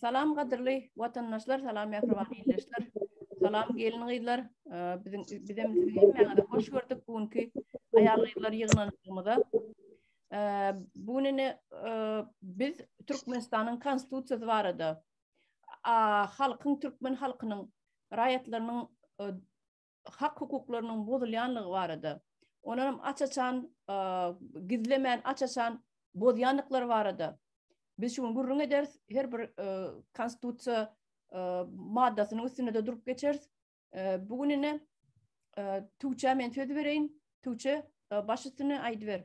Salam gadyrly watandaşlar, salam mähriban ildeşler. Salam gelin gyzlar. Biziň bizem sizi hemmäňizi hoş gördük bu günki aýal gyzlar ýygnanşygymyza. Bu gün ine biz Türkmenistanyň konstitusiýasy barada halkyň türkmen halkynyň raýatlarynyň hak-hukuklarynyň bozulýanlygy barada, onuňam aç-açan, gizlemän, aç-açan bozýandyklary barada biz şu gün gürrüň ederis, her bir Konstitusiýa maddasynyň üstünde-de durup geçeris. Bu gün ine, Tugçä men söz bereýin. Tugçe, baş üstüne aýdyber.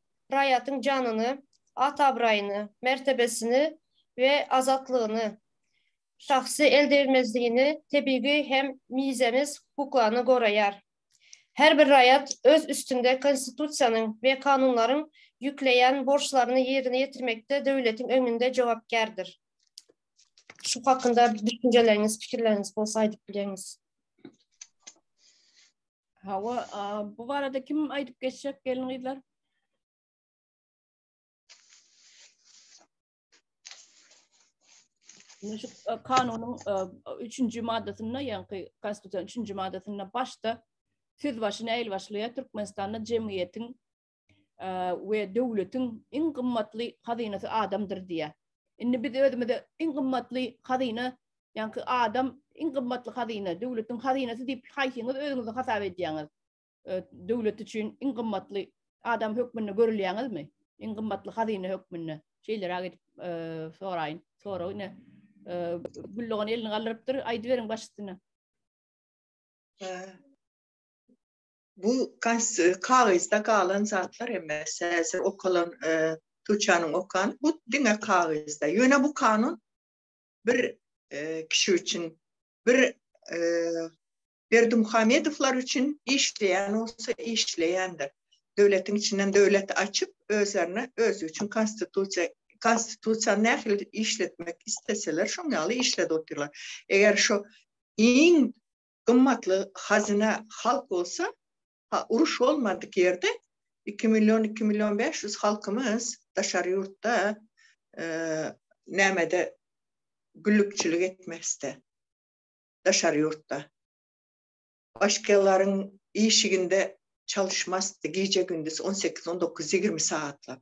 raýatyň janyny, at-abraýyny, mertebesini we azatlygyny, şahsy eldegrilmezligini, tebigy hem mizemez hukuklaryny goraýar. Her bir raýat öz üstünde Konstitusiýanyň we kanunlaryň ýükleýän borçlaryny ýerine ýetirmekde döwletiň öňünde jogapkärdir. Şu hakynda düşünjeleriňiz, pikirleriňiz bolsa aýdyp bilerňiz. Hawa, bu barada kim aýdyp geçjek gelin gyzlar? Şu e, kanunyň 3-nji e, maddasynda, ýagny Konstitusiýanyň 3-nji maddasynda başda söz başyny äýl başlaýar Türkmenistanda jemgyýetiň we döwletiň iň gymmatly hazynasy adamdyr diýýär. Indi biz özümize iň gymmatly hazyna, ýaňky adam iň gymmatly hazyna, döwletiň hazynasy diýip haýsyňyz özüňizi hasap edýäňiz? Döwlet üçin iň gymmatly adam hökmünde görülýäňizmi? Iň gymmatly hazyna hökmünde? Şeýleräk edip soraýyn. Sorag ine Güldogan elini galdyrypdyr. Aýdyberiň başysyna. Bu kagyzda galan zatlar emmes, häzir okalan Tuçanyň okan bu diňe kagyzda. Ýöne bu kanun bir kişi üçin, bir Berdimuhamedowlar üçin işleýän bolsa işleýändir. Döwletiň içinden döwlet açyp, özlerine özi üçin konstitusiýa konstitusiýany nähili işletmek isleseler, şoň ýaly işledip otyrlar. Eger şu iň gymmatly hazyna halk bolsa, ha uruş bolmadyk ýerde iki million, iki million bäş ýüz halkymyz daşary ýurtda nämede güllükçilik etmezdi. Daşary ýurtda. Başgalaryň işiginde çalyşmazdy gije-gündiz on sekiz, on dokuz, ýigrimi sagatlap.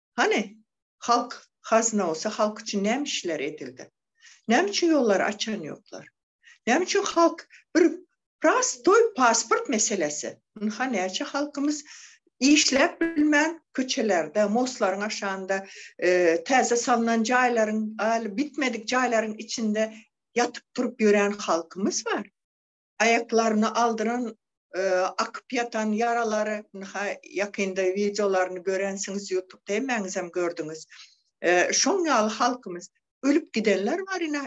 Hany, halk hazyna bolsa, halk üçin näme işler edildi? Näme üçin ýollary açan ýoklar? Näme üçin halk bir prostoý pasport meselesi? Ynha, näçe halkymyz işläp bilmän köçelerde, mostlaryň aşagynda, täze salnan jaýlaryň, ýaly bitmedik jaýlaryň içinde ýatyp-turup ýörän halkymyz bar. aýaklaryny aldyran akyp ýatan ýaralary ynha ýakynda wideolaryny görensiňiz ýutubda hemmäňizem gördüňiz şoň ýaly halkymyz ölüp gidenler bar ine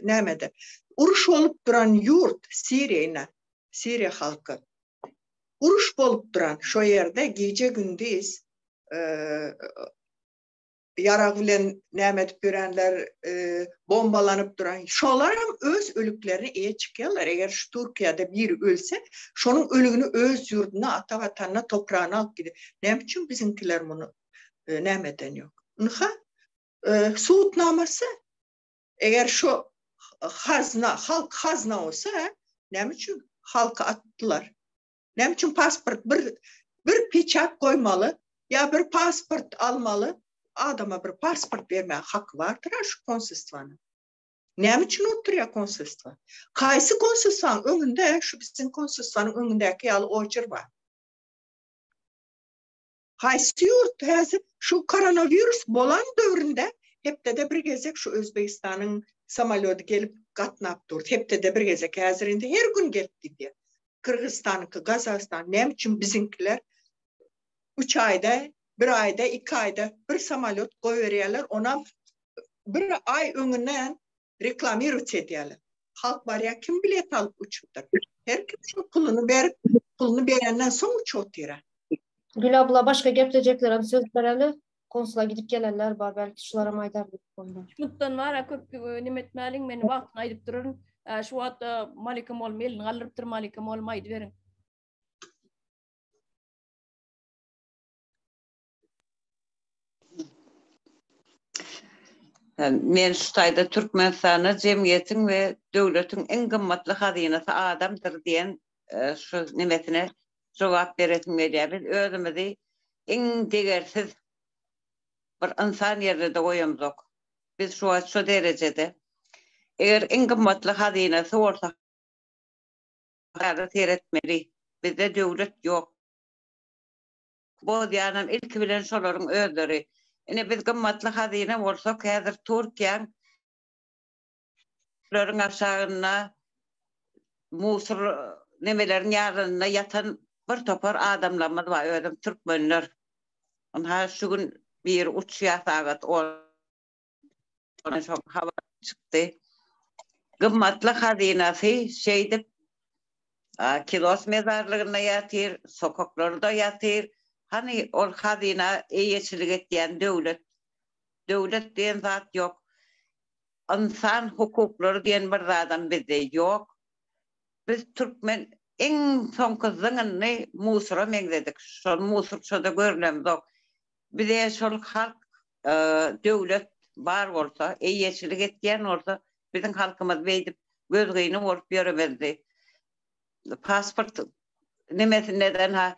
nämede uruş bolup duran ýurt siriýa ine siriýa halky uruş bolup duran şo ýerde gije gündiz ýarag bilen näme edip ýörenler, bombalanyp duran, şolar hem öz ölüklerine eýe çykýarlar. Eger şu Türkiýede biri ölse, şonuň ölügini öz ýurduna, ata Watanyna, topragyna alyp gidip, näme üçin biziňkiler muny näme eden ýok? Ynha, sud namasy, eger şu hazna, halk hazna bolsa, näme üçin halky atdylar? Näme üçin pasport bir bir peçat goýmaly ýa bir pasport almaly adama bir pasport bermäge haky bardyr a şu konsulstwanyň. Näme üçin oturýar konsulstwa? Kaýsy konsulstwanyň öňünde şu biziň konsulstwanyň öňündäki ýaly oýjer bar? Haýsy ýurt häzir şu koronawirus bolan döwründe hepdede bir gezek şu Özbegistanyň samolýody gelip gatnap durdy. Hepdede bir gezek häzir indi her gün gelip gidýär. Kyrgyzystanyňky, Gazagystan näme üçin biziňkiler üç aýda, bir aýda, iki aýda bir samolýot goýberýärler, onam bir aý öňünden reklamirowç edýärler. Halk barýar, kim bilet alyp uçupdyr? Her kim şu puluny berip, puluny berenden soň uçup otyra. Gül abla başga geplejeklerem söz bereli. Konsula gidip gelenler bar, belki şularam aýdar diýip bolýar. Şutdan wara köp neme etmäliň, men wagtyny aýdyp duraryn. Şu wagt Malika molum elini galdyrypdyr, Malika molum aýdyberiň. Men şu taýda Türkmenistanda jemgyýetiň we döwletiň iň gymmatly hazynasy adamdyr diýen şu nemesine jogap beresim gelýär. Biz özümizi iň degersiz bir ynsan ýerine-de goýamzok. Biz şu wagt şu derejede eger iň gymmatly hazynasy bolsa seretmeli. Bizde döwlet ýok. bozýanam ilki bilen şolaryň özleri. Ine biz gymmatly hazyna bolsak häzir Türkiýäň laryň aşagynda musur nemeleriň ýarynda ýatan bir topar adamlarymyz bar özüm türkmenler. Ynha şu gün biri uçýar sagat on. Şo habar çykdy. Gymmatly hazynasy şeýdip Kilos mezarlygynda ýatyr, sokaklarda ýatyr. Hany ol hazyna eýeçilik etýän döwlet? Döwlet diýen zat ýok. Ynsan hukuklary diýen bir zadam bizde ýok. Biz türkmen iň soňky zyňyndy musura meňzedik. Şol musurçada görlemzok. Bize şol halk, döwlet bar bolsa, eýeçilik etýän bolsa, biziň halkymyz beýdip gözgyny bolup ýöremezdi. Pasport nemesinde-de-ha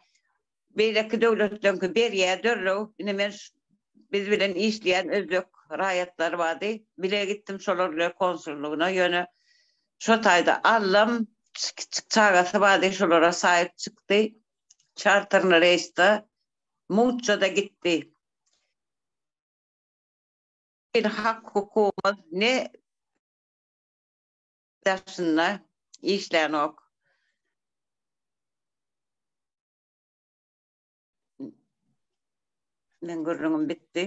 beýleki döwletleňki berýär dörrew. Indi men biz bilen işleýän özbek raýatlary bardy. Bile gitdim şolar bilen konsullygyna, ýöne şo taýda allam kiçi çagasy bardy, şolara saýyp çykdy. Çarterny reýsde muňça-da gitdi. Biziň hak-hukumymyz ne daşynda işlänok. Meň gürrüňim bitdi.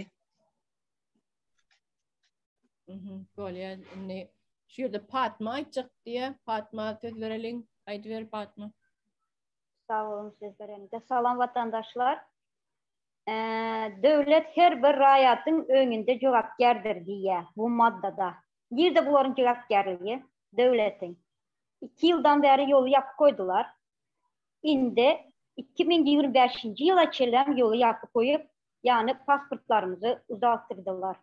Bolýar. Indi şu ýerde Patma aýtjak diýýär. Patma söz bereliň. Aýdyber Patma. Sag boluň sizler hem. Salam watandaşlar. Döwlet her bir raýatyň öňünde jogapkärdir diýýär bu maddada. Nirde bularyň jogapkärligi? Döwletiň. Iki ýyldan bäri ýoly ýapyp goýdular. Indi iki müň ýigrimi bäşinji ýyla çenlem ýoly ýapyp goýup, ýagny pasportlarymyzy uzaltdyrdylar.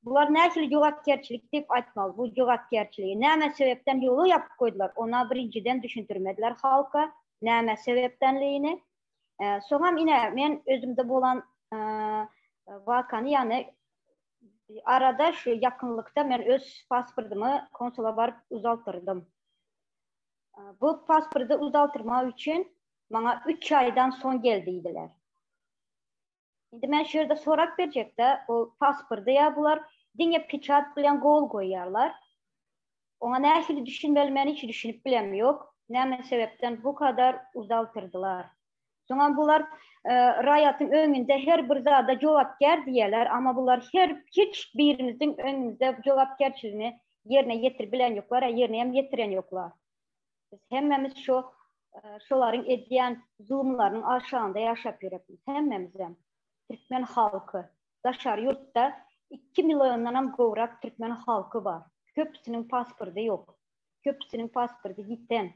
Bular nähili jogapkärçilik diýip aýtmaly, bu jogapkärçiligi näme sebäpden ýola ýapyp goýdular, ona birinjiden düşündirmediler halka näme sebäpdenligini. Soňam ine men özümde bolan wakany ýagny arada şu ýakynlykda men öz pasportymy konsula baryp uzaltyrdym. Bu pasporty uzaltyrmak üçin maňa üç aýdan soň gel diýdiler. Indi men şu ýerde sorap berjekde, o pasporty ýa bular diňe peçat bilen gol goýýarlar. Oňa nähili düşünmeli men hiç düşünip bilem ýok. Näme sebäpden bu kadar uzaltyrdylar. Soňam bular e, raýatyň öňünde her bir zada jogapkär diýerler, amma bular her hiç birimiziň öňümizde jogapkärçiligini ýerine ýetirip bilen ýoklar, ýerine hem ýetiren ýoklar. Biz hemmämiz şu şolaryň edýän zulumlarynyň aşagynda ýaşap ýöreris. Hemmämizem türkmen halky. Daşary ýurtda iki milliondan hem gowrak türkmen halky bar. Köpüsiniň pasporty ýok. Köpüsiniň pasporty ýiten.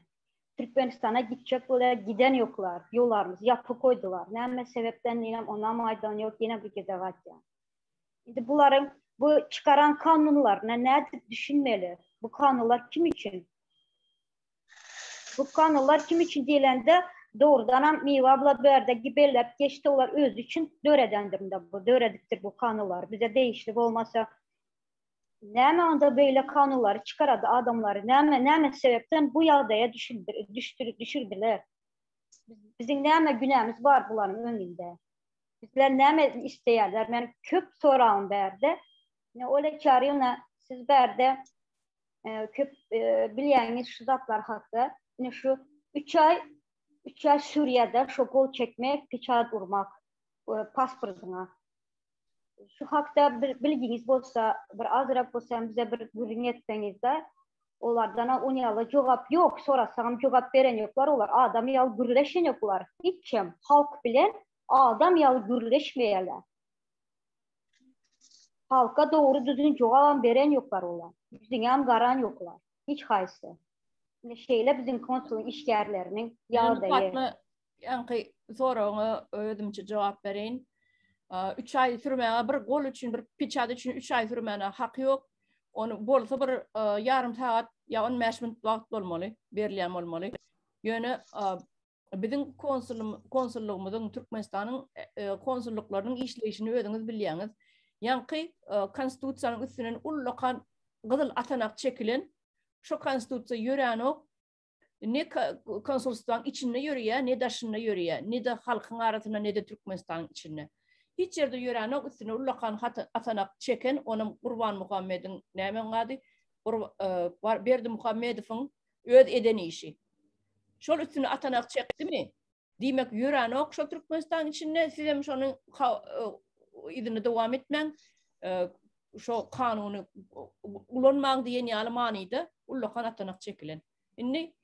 Türkmenistana gitjek bolýar, giden ýoklar. Ýollarymyzy ýapyp goýdular. Näme sebepden diýlem onam aýdan ýok, ýene bir gezek aýtýan. Indi bularyň bu çykaran kanunlaryna nädip düşünmeli? Bu kanunlar kim üçin? Bu kanunlar kim üçin diýlende, dogrudan hem Miwa abla bu ýerde belläp geçdi, olar özi üçin döredendir indi bu, döredipdir bu kanunlary. Bize degişli bolmasa, näme onda beýle kanunlary çykarady adamlary? Näme, näme sebäpden bu ýagdaýa düşürdiler? Biziň näme günämiz bar bularyň öňünde? Bizden näme isleýärler? Men köp soragym bärde. Ne Oleg Çarýuna siz bärde e, köp e, bilýäňiz şu zatlar hakda. Ne şu 3 aý 3 aý Suriýada şu gol çekmek, peçat urmak e, pasportyna. Şu hakda bir bilgiňiz bolsa, bir azrak bolsa bize bir gürrüň etseňiz-de, Olardan-a ony ýaly jogap ýok, sorasaňam jogap beren ýoklar, olar adam ýaly gürleşen ýoklar, hiç kim halk bilen adam ýaly gürleşmeýärler. Halka dogry düzgün jogabam beren ýoklar olar, ýüzüňem garan ýoklar, hiç haýsy. Ine şeýle biziň konsulyň işgärleriniň ýagdaýy. Ýaňky soragyňa özümçe jogap bereýin. 3 aý sürmäge bir gol üçin, bir piçat üçin 3 aý sürmäne haky ýok. Ony bolsa bir ýarym sagat ýa 15 minut wagt bolmaly, berilýän bolmaly. Ýöne biziň konsullygymyzyň, Türkmenistanyň konsullyklarynyň işleýşini özüňiz bilýäňiz. Ýaňky konstitusiýanyň üstünden ullakan gyzyl atanak çekilen, şo konstitusiýa ýöränok, ne konsulstwaň içinde ýörýär, ne daşynda ýörýär, ne-de halkyň arasynda, ne-de Türkmenistanyň içinde. Hiç ýerde ýöränok, üstüne ullakan hat atanak çeken, onam Gurbanmuhammediň, näme onuň ady, Berdimuhammedowyň öz eden işi. Şol üstüne atanak çekdimi, Diýmek ýörenok şol Türkmenistan içinde sizem şonuň yzyny dowam etmäň. Şo kanuny ulanmaň diýen ýaly manyda ullakan atanak çekilen. Indi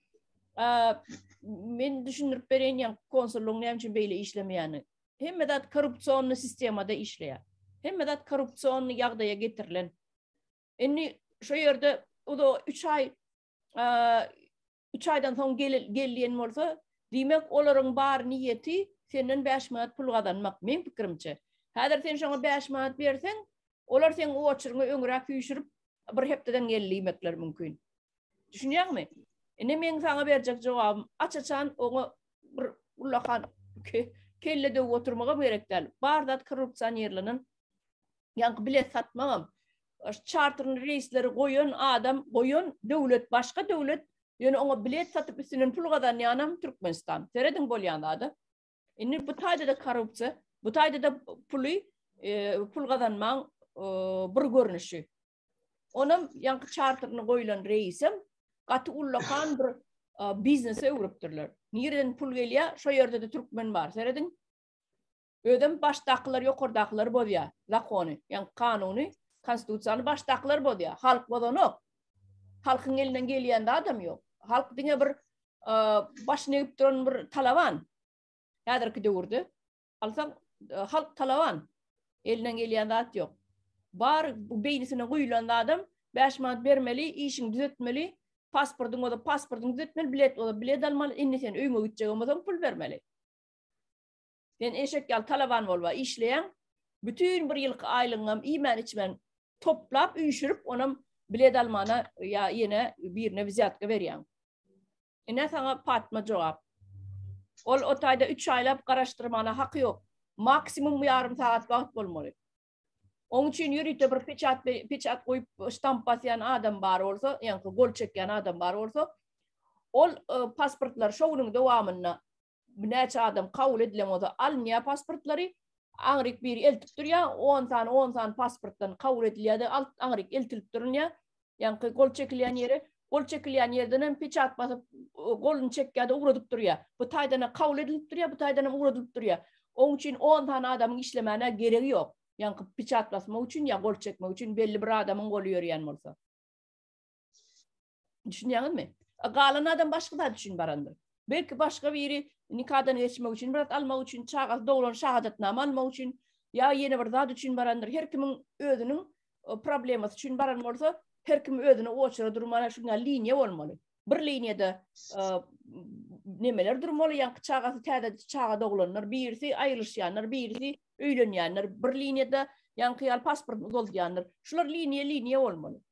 men düşündirip bereýin ýa konsullygyň näme üçin beýle işlemeýäni. Hemme zat korrupsionny sistemada işleýär. Hemme zat korrupsionny ýagdaýa getirilen. Indi şo ýerde uzo 3 aý Üç aýdan soň gel diýen bolsa, diýmek, olaryň bar niýeti senden bäş manat pul gazanmak, meň pikirimçe. Häzir sen şoňa bäş manat berseň, olar seň oçeryňy öňräk süýşürip, bir hepdeden gel diýmekleri mümkin. Düşünýäňmi? Indi meň saňa berjek jogabym, aç-açan oňa bir ullakan kelle döwüp oturmagam gerek däl. Bar zat korrupsionirlenen. Ýaňky bilet satmagam, Çarterli reýsleri goýan adam, goýan döwlet, başga döwlet, ýöne oňa bilet satyp üstünden pul gazanýanam Türkmenistan. Serediň bolýan zada. Indi bu taýda-da korrupsiýa, bu taýda-da puly, e, pul gazanmaň e, bir görnüşi. Onam ýaňky çarterli goýlan reýsem gaty ullakan bir biznese öwrüpdirler. Nireden pul gelýär? Şo ýerde-de türkmen bar. Serediň. Özem başdakylar ýokardakylary bozýa zakony ýagny kanuny konstitusiýany başdakylar bozýa halk bozanok. Halkyň elinden gelýän zadam ýok. Halk diňe bir başyny egip duran bir talaban. Häzirki döwürde alsaň halk talaban. Elinden gelýän zat ýok. Bar beýnisine guýulan zadam 5 manat bermeli, işiň düzetmeli, pasportyň bolsa pasportyň düzetmeli, bilet bolsa bilet almaly, indi sen öýüňe gitjegem bolsaň pul bermeli. Sen eşek ýaly talaban bolba, işleýäň, bütin bir ýylky aýlygyňam iýmän-içmän toplap, üýşürip, onam bilet almana ýa ýene birine wzýatka berýäň. Ine saňa Patma jogap. Ol o taýda üç aýlap garaşdyrmana haky ýok. Maksimum ýarym sagat wagt bolmaly. Oň üçin ýörite bir peçat peçat goýup, ştamp basýan adam bar bolsa, ýaňky gol çekýän adam bar bolsa, ol pasportlary şo günüň dowamynda Näçe adam kabul edilen bolsa alynýar pasportlary, aňryk biri eltip durýar, on sany, on sany pasportdan kabul edilýär-de, alt aňryk eltilip durunýar. Ýaňky gol çekilýän ýeri, gol çekilýän ýerden hem peçat basyp, goluny çekýär-de ugradyp durýar. Bu taýdan hem kabul edilip durýar, bu taýdan hem ugradylyp durýar. Oň üçin on sany adamyň işlemäne geregi ýok. Ýaňky peçat basmak üçin ýa gol çekmek üçin belli bir adamyň goly ýörýän bolsa. Düşünýäňizmi? Galan adam başga zat üçin barandyr. Belki başga biri nikadan geçmek üçin, biraz almak üçin, çagasy doglan şahadatnama almak üçin, ýa ýene bir zat üçin barandyr. Her kimiň özüniň e, problemasy üçin baran bolsa, her kim özüne oçara durmaly, şunda liniýa bolmaly. Bir liniýada e, nemeler durmaly, ýa çagasy täze çaga doglanlar, birisi aýrylyşýanlar, birisi öýlenýänler, bir liniýada ýaňky ýaly pasportyny uzaldýanlar. Şular liniýa liniýa bolmaly.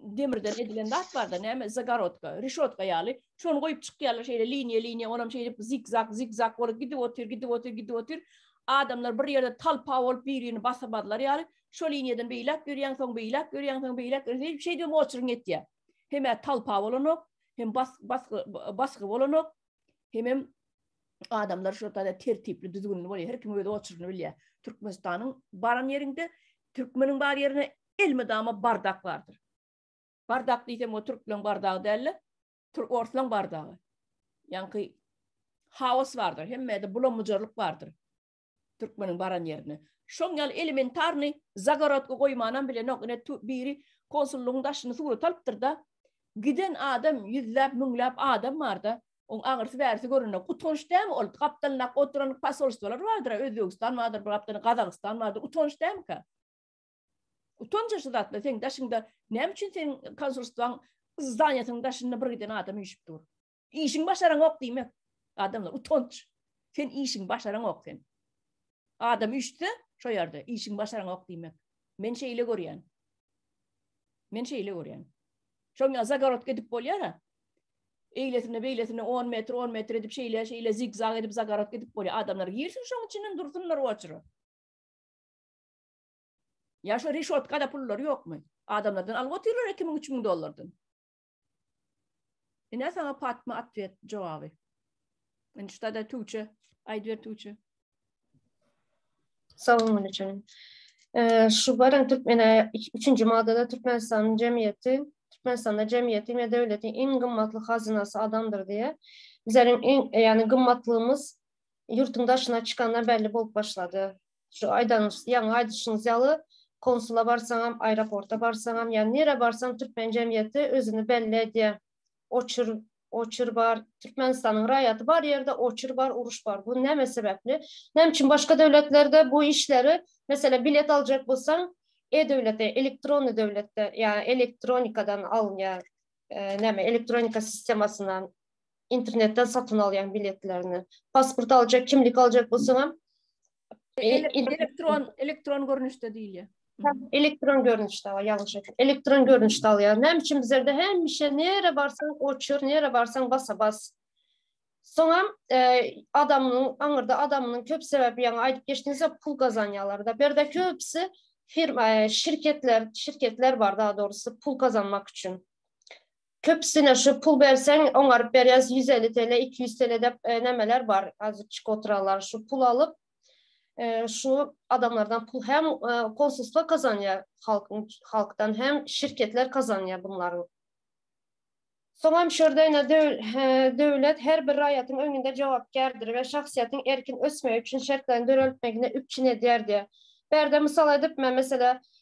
demirden edilen zat barda, näme zagorodka, rişotka ýaly. Şony goýup çykýarlar şeýle liniýa-liniýa, onam şeýdip zigzag, zigzag bolup gidip otyr, gidip otyr, gidip otyr. Adamlar bir ýerde talpa bolup bir-birini basamazlar ýaly. Şo liniýadan beýläk ýörýäň, soň beýläk ýörýäň, soň beýläk ýörýäň, şeýdip hem oçuryn etýär. Hem talpa bolanok, hem bas, bas, basgy bolanok, hem hem adamlar şu tada tertipli, düzgünli bolýar. Her kim öz oçuryny bilýär. Türkmenistanyň baran ýerinde, türkmeniň bar ýerine elmydama bardak bardyr. Bardak diýsem o türkleň bardagy däl-de, türk orslaň bardagy. Ýaňky haos bardyr, hemmede bulam-bujarlyk bardyr. Türkmeniň baran ýerinde. Şoň ýaly elementarny zagorodka goýmanam bilenok. Ine biri konsullygyň daşyny surat alypdyr-da, giden adam ýüzläp, müňläp adam bar-da, oň agyrysy bärisi görende utanç dämi ol? Gapdalyndaky oturan posolstwolar bardyr, Özbegistan bardyr, bir gapdalynda Gazagystan bardyr, utanç dämika? Utanca şu zatla seň daşyňda näme üçin seň konsulstwaň zdanýasynyň daşynda bir giden adam üýşüp dur. Işiň başaraňok diýmek. Adamlar utanç. Sen işiň başaraňok sen. Adam üýşse şo ýerde işiň başaraňok diýmek. Men şeýle görýän. Men şeýle görýän. Şoňa zagorod gidip bolýar-a. Eýlesine beýlesine 10 metr 10 metr edip şeýle şeýle zigzag edip zagorod gidip bolýar. Adamlar girsin şoň içinden dursunlar oçry. Ýa şu reşotkada pullary ýokmy? Adamlardan alyp otyrlar iki müň, üç müň dollardan. Ine sana Patma atwet jogaby. Indi şuda-da Tuwçe, aýdyber Tuwçe. Salam aleyküm. Şu baran Türkmene 3-nji maddada Türkmenistanyň jemgyýeti, Türkmenistanda jemgyýeti we döwletiň iň gymmatly hazynasy adamdyr diýe. Bizleriň iň, ýagny gymmatlygymyz ýurtuň daşyna çykanda belli bolup başlady. Şu aýdanyňyz, ýaňy aýdyşyňyz ýaly, konsula barsaňam, aeroporta barsaňam, ýa nirä barsaň türkmen jemgyýeti özüni belli edýär. Oçur, oçur bar. Türkmenistanyň raýaty bar ýerde oçur bar, uruş bar. Bu näme sebäpli? Näme üçin başga döwletlerde bu işleri, meselem, bilet aljak bolsaň, e-döwlete, elektronny döwletde, ýa elektronikadan alynýar, näme, elektronika sistemasyndan internetden satyn alýan biletlerini. Pasport aljak, kimlik aljak bolsaň hem elektron elektron görnüşde diýilýär. Elektron görnüşde, ýalňyş etdim. Elektron görnüşde alýar. Näme üçin bizlerde hemişe nere barsaň oçur, nere barsaň basa bas. Soňam e, adamyň aňyrda adamynyň köp sebäbi ýaňy aýdyp geçdiňizde pul gazanýarlar da. Berde köpüsi firma, e, şirketler, şirketler bar da dogrusu pul gazanmak üçin. Köpüsine şu pul berseň oňaryp berýäs ýüz elli tele iki ýüz tele dep nämeler bar azitçik oturanlar şu pul alyp şu adamlardan pul hem konsulstwa kazanýar halkyň halkdan hem şirketler kazanýar bunlaryň Soňam şu ýerde ine döwlet her bir raýatyň öňünde jogapkärdir we şahsyýetiň erkin ösmegi üçin şertlerini döreltmegini üpjün edýär diýýär. Bu ýerde mysal edip men mesele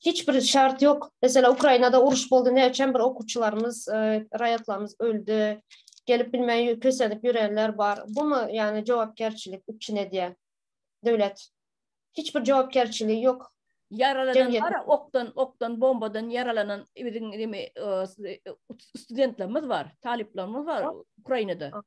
hiç bir şart ýok. Mesela Ukrainada uruş boldy, näçem bir okuwçylarymyz, e, raýatlarymyz öldi. Gelip bilmän kösenip ýörenler bar. Bu mu ýani jogapkärçilik üçin edýär? Döwlet hiç bir jogapkärçiligi ýok. Ýaralanan bar, okdan, okdan, bombadan ýaralanan biziň neme e, e, studentlerimiz bar, talyplarymyz bar Ukrainada.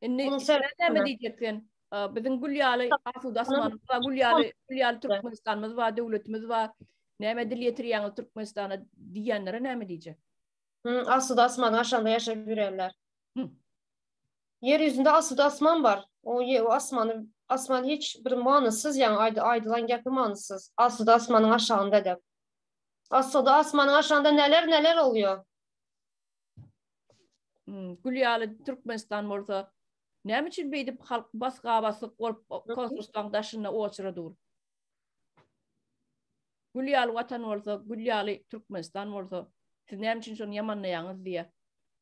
Indi näme diýjek sen? Biziň gül ýaly asuda asmanymyz bar, gül ýaly, gül ýaly Türkmenistanymyz bar, döwletimiz bar. Näme dil ýetirýäňiz Türkmenistana diýýänlere näme diýjek? Asuda asmanyň aşagynda ýaşap ýörenler. Ýer ýüzünde asuda asman bar. O asmany asman hiç bir manysyz, ýaňy aýdylan gäpi manysyz. Asuda asmanyň aşagynda dek. Asuda asmanyň aşagynda neler-neler bolýar? Hmm, gül ýaly Türkmenistan bolsa näme üçin beýdip halk basga basyk bolup konsulstwaň daşynda oçura dur? Gül ýaly watan bolsa, gül ýaly Türkmenistan bolsa, siz näme üçin şony ýamanlaýaňyz diýe.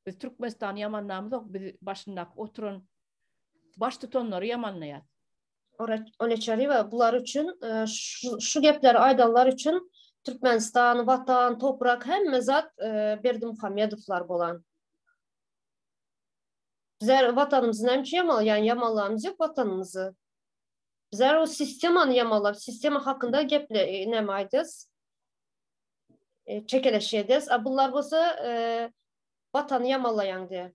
Biz Türkmenistany ýamanlamyzok, biz başyndaky oturan baş tutanlary ýamanlaýar. Oleçarywa bular üçin e, şu gepleri aýdanlar üçin Türkmenistan, watan, toprak hemme zat e, Berdimuhamedowlar bolan. Bizler vatanymyzy näme üçin ýamalýan? Ýamallamyz ýok vatanymyzy. Bizler o sistemany ýamalap, sistema hakynda geple e, näme aýdýas? E, çekeleş edýäs. A bular bolsa e, watany ýamalaýan diýýär.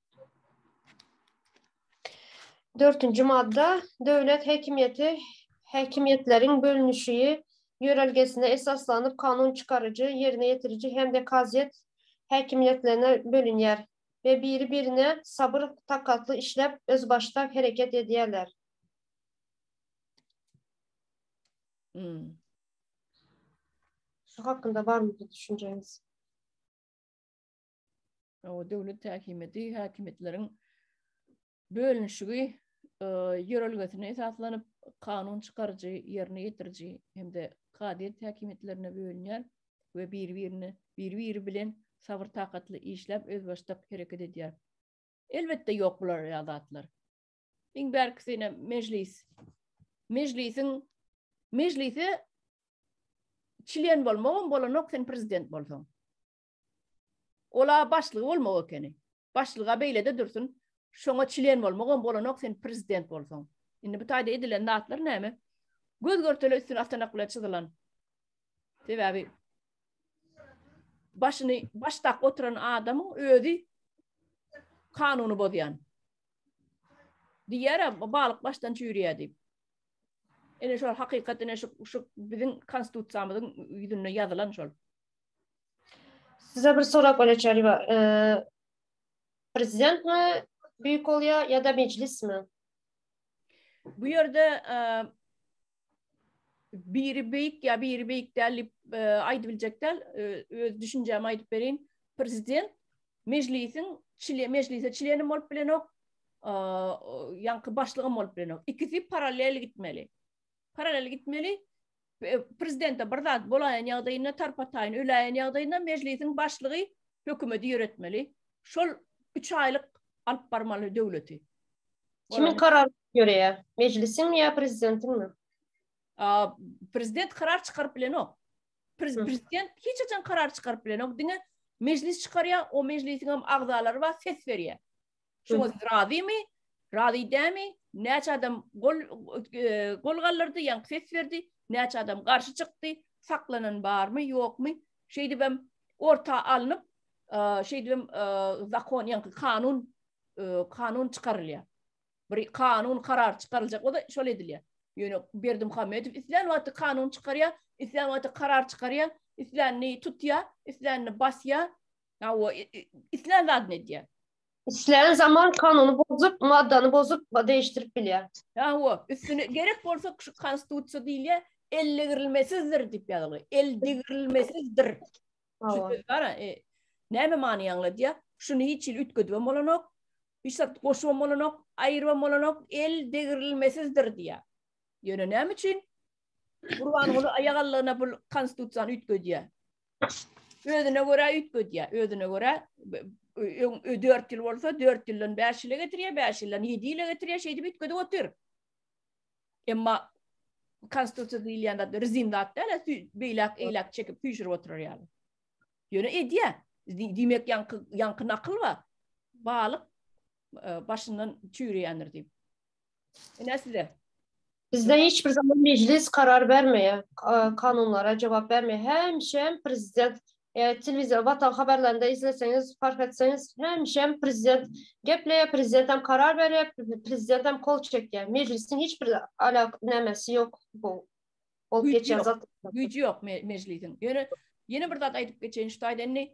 Dörtünji madda. Döwlet häkimiýeti häkimiýetleriň bölünişigi ýörelgesine esaslanyp kanun çykaryjy, ýerine ýetiriji hem-de kazyýet häkimiýetlerine bölünýär we biri-birine sabyr-takatly işläp, özbaşdak hereket edýärler. Şu hakynda barmy bir düşünjeňiz? döwlet häkimiýeti häkimiýetleriň bölünişigi e, ýörelgesine esaslanyp kanun çykaryjy, ýerine ýetiriji hem-de kazyýet häkimiýetlerine bölünýär we bir-birini bir-biri bilen sabr takatly işläp özbaşdak hereket edýär. Elbetde ýok bular ýadatlar. Iň bärkisine mejlis. Mejlisiň mejlise çilen bolmagam bolanok sen prezident bolsaň. Ol-a başlygy bolmak ekeni. Başlyga beýlede dursun, şoňa çlen bolmagam bolanok sen prezident bolsaň. Indi bu taýda edilen zatlar näme? Göz görtele üstüni atanak bilen çyzylan. Sebäbi başyny baş dak oturan adamyň özi kanuny bozýan. Diýýär, balyk başdan çüýrýär diýip. Ene şol hakykat ene şu şu biziň konstitusiýamyzyň ýüzünde ýazylan şol. Size bir sorak öleçer ýa e, prezident mi büyük bolýa ya da meclis mi? Bu yerde e, biri büyük ya biri büyük däl diýip e, aýdyp biljek däl. E, öz düşünjämi aýdyp berin. Prezident meclisiň çile meclise çilenim bolup bilenok. E, ýaňky başlygym bolup bilenok. Ikisi paralel gitmeli. Paralel gitmeli. Prezidente bir zat bolaýan ýagdaýynda, tarpataýyn öläýen ýagdaýynda Mejlisiň Başlygy hökümeti ýöretmeli. Şol üç aýlyk alyp barmaly döwleti. Kimiň karary ýöreýär? Mejlisiňmi ýa Prezidentiňmi? Prezident karar çykaryp bilenok. Prezident hiç haçan karar çykaryp bilenok. Diňe Mejlis çykarýar, o Mejlisiňem agzalary bar, ses berýär. Şoňa siz razymy? Razy dämi? Näçe adam gol e, gol galdyrdy, ýa ses berdi, näçe adam garşy çykdy, saklanan barmy, ýokmy? Şeýdip hem orta alnyp, e, şeýdip hem e, zakon, ýa-ni kanun, kanun çykarylýar. Bir kanun karar çykaryljak bolsa, şol edilýär. Ýöne Berdi Muhammedow islän wagty kanun çykarýar, islän wagty karar çykarýar, islänini tutýar, islänini basýar, islän zadyny edýär. İsleyen zaman kanunu bozup, maddanı bozup, değiştirip bilýär. Awa, üstüne gerek bolsa şu konstitusiýa diýilýär, eldigirilmesizdir diýip ýazylgy. Eldigirilmesizdir. Şu söz bar, e, näme many aňladýar? Şuny hiç ýyl üýtgedip hem bolanok, hiç zat goşup hem bolanok, aýryp hem bolanok, eldigirilmesizdir diýýär. Ýöne näme üçin Gurbanguly aýagallygyna bu konstitusiýany üýtgedýär? özüne görä üýtgedýär, özüne görä dört ýyl bolsa, dört ýyldan bäş ýyla getirýär, bäş ýyldan ýedi ýyla getirýär, şeýdip üýtgedip otyr. Emma konstitusiýa diýilýän zat rezin zat däl, beýläk eýläk çekip süýşürip oturar ýaly. Ýöne edýär. Diýmek ýaňky ýaňky nakyl bar. Balyk e, başyndan çüýreýändir diýip. Ine size. Bizde hiç bir zaman meclis karar bermeýär, kanunlara jogap bermeýär. Hemişem prezident telewizor watan haberlerinde izleseňiz, fark etseňiz, hemişem prezident gepleýär, prezident hem karar berýär, prezident hem kol çekýär. Meclisiň hiç bir alak nämesi ýok bu. Ol geçýän zat. Güýji ýok meclisiň. Ýöne ýene bir zat aýdyp geçeýin şu taýdan indi.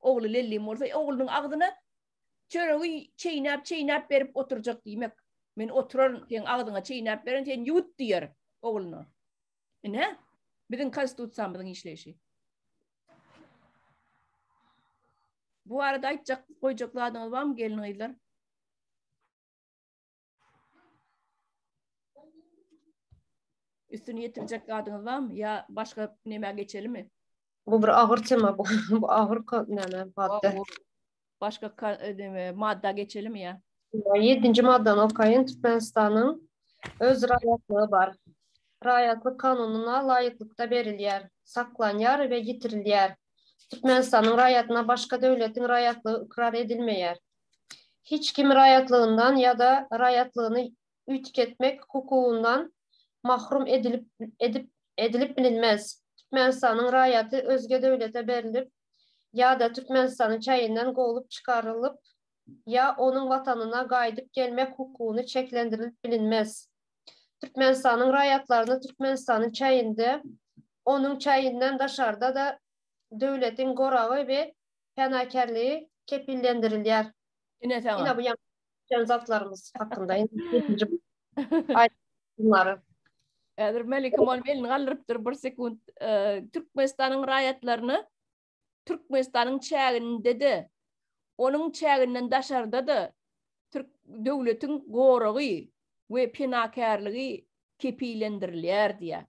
Ogly Lellim bolsa oglunyň agzyna çöregi çeýnäp-çeýnäp berip oturjak diýmek. Men oturaryn, seň agzyňa çeýnäp berin, sen ýuwut diýer ogluna. Ine, biziň Konstitusiýamyzyň işleýşi. Bu barada aýtjak, goýjak zadyňyz barmy gelin-gyzlar? Üstüni ýetirjek zadyňyz barmy? Ýa başga nämä geçelimi? Bu bir agyr tema bu. Bu agyr näme madda. Başga näme madda geçelimi ýa? 7-nji maddany okaýyn. Türkmenistanyň öz raýatlygy bar. Raýatlyk kanunyna laýyklykda berilýär, saklanýar we ýitirilýär. Türkmenistanyň raýatyna başga döwletiň raýatlygy ykrar edilmeýär. hiç kimi raýatlygyndan ýa-da raýatlygyny üýtgetmek hukugyndan mahrum edilip edip edilip bilinmez. Türkmenistanyň raýaty özge döwlete berlip ýa-da Türkmenistanyň çäginden kowlup çykarylyp ýa onuň watanyna gaýdyp gelmek hukugyny çeklendirilip bilinmez. Türkmenistanyň raýatlaryny Türkmenistanyň çäginde onuň çäginden daşarda-da döwletiň goragy we penakärligi kepillendirilýär. Ine saňa. Ine bu ýaňky geçen zatlarymyz hakynda. Häzir Melikim onuň elini galdyrypdyr bir sekunt. Türkmenistanyň raýatlaryna Türkmenistanyň çäginde-de, onuň çäginden daşarda-da türk döwletiň goragy we penakärligi kepillendirilýär diýýär.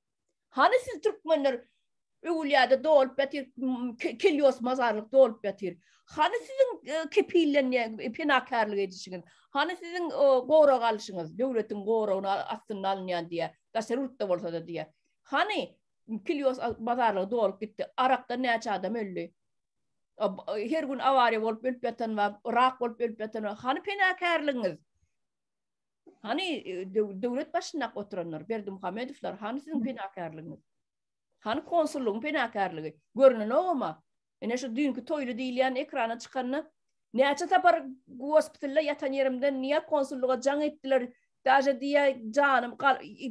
Hany siz türkmenler öwülýäde dolup ýatyr, kelios mazarlyk dolup ýatyr. Hany siziň e, kepillenýän e, penakärlik edişiňiz? Hany siziň e, gorag alşyňyz, döwletiň goragyny astynda alynýan diýýär, daşary ýurtda bolsa-da diýýär. Hany kelios mazarlyk dolup gitdi, arakdan näçe adam öldi? Her gün awariýa bolup ölüp ýatan bar, rak bolup ölüp ýatan bar. Hany penakärligiňiz? Hany döwlet başynda oturanlar, Berdimuhamedowlar, hany siziň penakärligiňiz? Hany konsullygyň penakärligi? Görünen ogama. Ene şu düýnki toýly diýilýän ekrana çykanda näçe sapar gospitalda ýatan ýerimden niýe konsullyga jaň etdiler? Daže diýe janym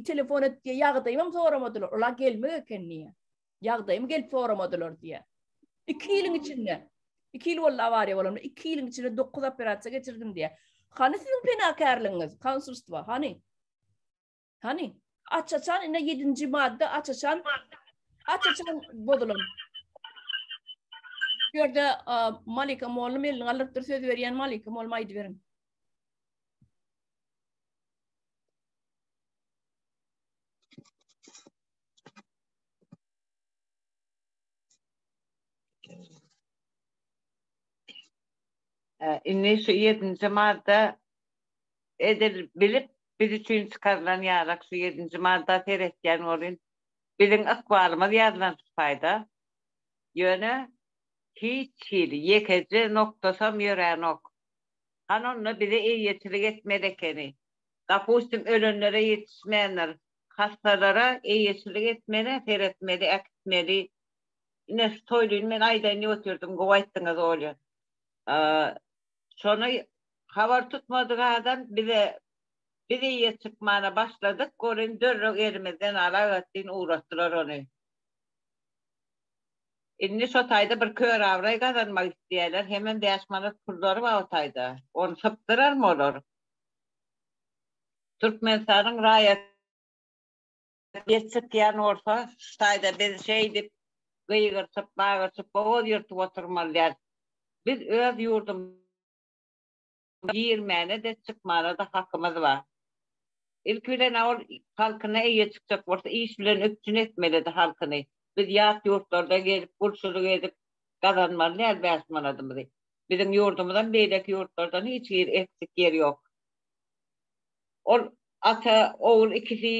telefon et diýe ýagdaýym hem soramadylar. Ola gelmek eken diýe. Ýagdaýymy gelip soramadylar diýýär. 2 ýylyň içinde, 2 ýyl boldy awariýa bolanma, 2 ýylyň içinde 9 operasiýa geçirdim diýýär. Hany siziň penakärligiňiz, konsulstwa, hany? Hany? Açaçan ine 7-nji madda açaçan açaçan bozulan. Bu ýerde Malika Mollum elini galdyrypdyr, söz berýän Malika Mollum aýdy beriň. Indi şu ýedinji madda edil bilip biz üçin çykarylan ýarak şu ýedinji madda seretýän bolun biziň ykbalymyz ýazylan sypaýda ýöne hiç hili ýekeje noktasam ýöränok han onda bize eýeçilik etmeli ekeni dapustim ölenlere ýetişmändir Hassalara eýeçilik etmeli, seretmeli, äkitmeli. Ine şu toýlyny men aýdaýyn diýip otyrdym, gowy aýtdyňyz Olýa. Şony habar tutmadyk adam bize biz eýe çykmana başladyk, welin dörrek elimizden al agatdyn ugratdylar ony. Indi şo taýda bir kör abraý gazanmak isleýärler, hemem bäş manat pullary bar o taýda. Ony sypdyrarmy olar? Türkmenistanyň raýaty ýet sypýan bolsa, şu taýda biz şeýdip gygyrtyp, bagyrtyp, bogaz ýyrtyp oturmaly däl. Biz öz ýurdumyza girmäne-de, çykmana-da hakymyz bar. Ilki bilen-ä ol halkyna eýe çykjak bolsa, iş bilen üpjün etmelidi halkyny. Biz ýat ýurtlarda gezip, gulçulyk edip gazanmaly däl bäş manadymyzy. Biziň ýurdumyzam beýleki ýurtlardan hiç hili eksik ýeri ýok. Ol ata ogul ikisi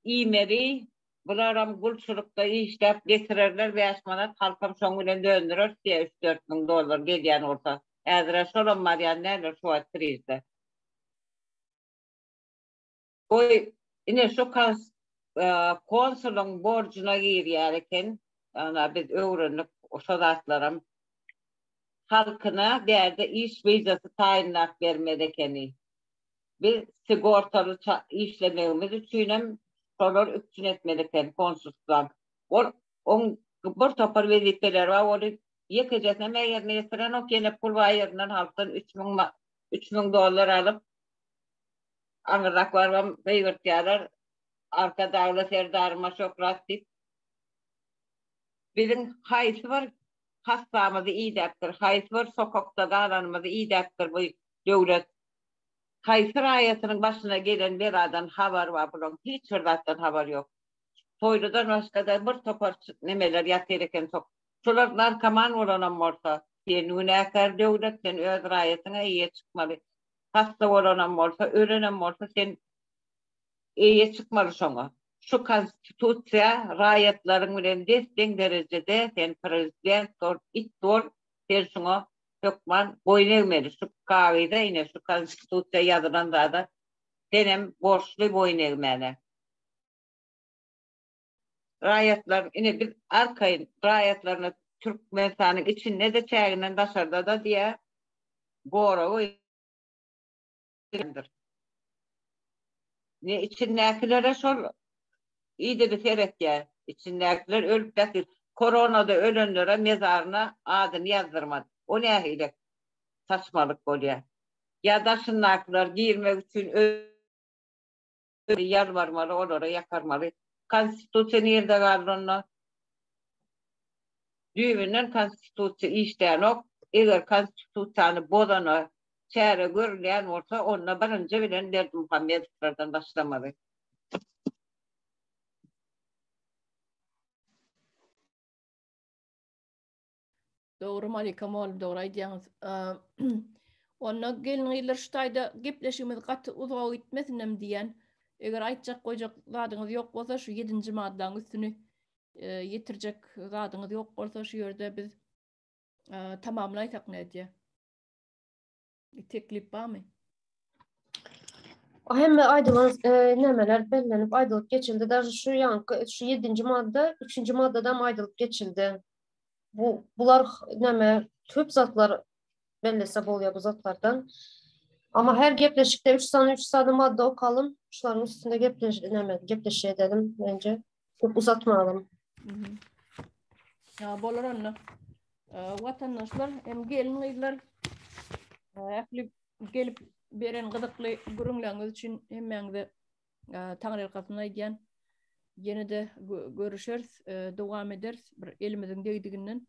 iýmeli. Bularam gulçulykda işläp getirerler bäş manat, halkam şoň bilen döndürer siýe üç-dört müň dollar gelýän bolsa. Häzir-ä şolam barýan däldir şu wagt krizde. Goý, ine şu kas konsulyň borjuna girýär eken. Ana biz öwrendik şo zatlaram. halkyna däde iş vizasy taýynlap bermez ekeni. Biz sigortaly işlemegimiz üçinem şolar üpjün etmeli eken konsulstwa. Ol oň bir topar wezipeleri bar, ony ýekejesinem ýerine ýetirenok, ýene pul bar ýerinden halkdan üç müň üç müň dollar alyp, aňyrrak barybam gygyrtýarlar, Arkadagly Serdaryma şöhrat diýip. Biziň haýsy bir hassamyzy idäpdir, haýsy bir sokakda galanymyzy idäpdir bu döwlet. Haýsy raýatynyň başyna gelen beladan habary bar bulaň, hiç bir zatdan habary ýok. Toýludan başga-da bir topar nemeler ýatyr eken sok. Şolar narkoman bolanam bolsa, sen günäkär döwlet, sen öz raýatyňa eýe çykmaly. Hassa bolanam bolsa, ölenem bolsa sen eýe çykmaly şoňa. Şu konstitusiýa raýatlaryň bilen des deň derejede sen prezident bol it bol sen şuňa hökman boýun egmeli şu kagyza ine şu konstitusiýa ýazylan zada senem borçly boýun egmäne. Raýatlar ine biz arkaýyn raýatlaryna türkmenistanyň içinde de çäginden daşarda da diýä goragy. gelýändir. Ne içindäkilere şol idegi seretýär. Içindäkiler ölüp bäsdir. Koronada ölenlere mezaryna adyny ýazdyrmady. O nähili saçmalyk bolýar. Ýa daşyndakylar girmek üçin ýalbarmaly, olara ýakarmaly. Konstitusiýa nirde galdy onda? Düýbünden Konstitusiýa işlänok. Eger Konstitusiýany bozana çäre görülýän bolsa, onda birinji bilen Berdimuhamedowlardan başlamaly. Dogry Malika mol dogry aýdýaňyz. Onda gelin gyzlar şu taýda gepleşigimiz gaty uzaga gitmesinm diýýän. Eger aýtjak goýjak zadyňyz ýok bolsa şu ýedinji maddaň üstüni ýetirjek zadyňyz ýok bolsa şu ýerde biz tamamlaýsak nädýä. Teklip barmy? Hemme aýdylan nämeler bellenip aýdylyp geçildi. Dažy şu ýaňky şu ýedinji madda, üçünji maddadam aýdylyp geçildi. Bu bular näme köp zatlar bellese bolýar bu zatlardan. Ama her gepleşikde üç sany üç sany madda okalym. Şularyň üstünde gepleş näme gepleşýä edelim bence. Köp uzatmadan. Ya bolar onda. Vatandaşlar hem gelin kızlar ähli gelip beren gyzykly gürünleriniz üçin hemmäňize Taňry ýalkasyny aýdýan. Ýene de görüşeris, dowam ederis bir elimiziň degdiginden.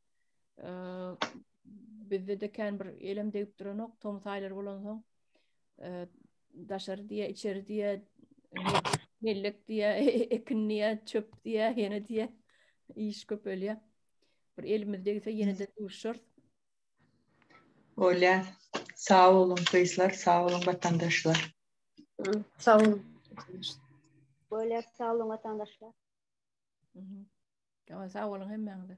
Bizde de kän bir elem degip duranok, tom saýlar bolansoň. daşary diýe, içeri diýe, mellek diýe, ekin diýe, çöp diýe, ýene diýe, iş köpelýär. Bir elimiz degse ýene-de duşar. Bolýar. Sag boluň gyzlar, sag boluň watandaşlar. Sag boluň. Bolýar, sag boluň watandaşlar. Sag boluň hemmäňize.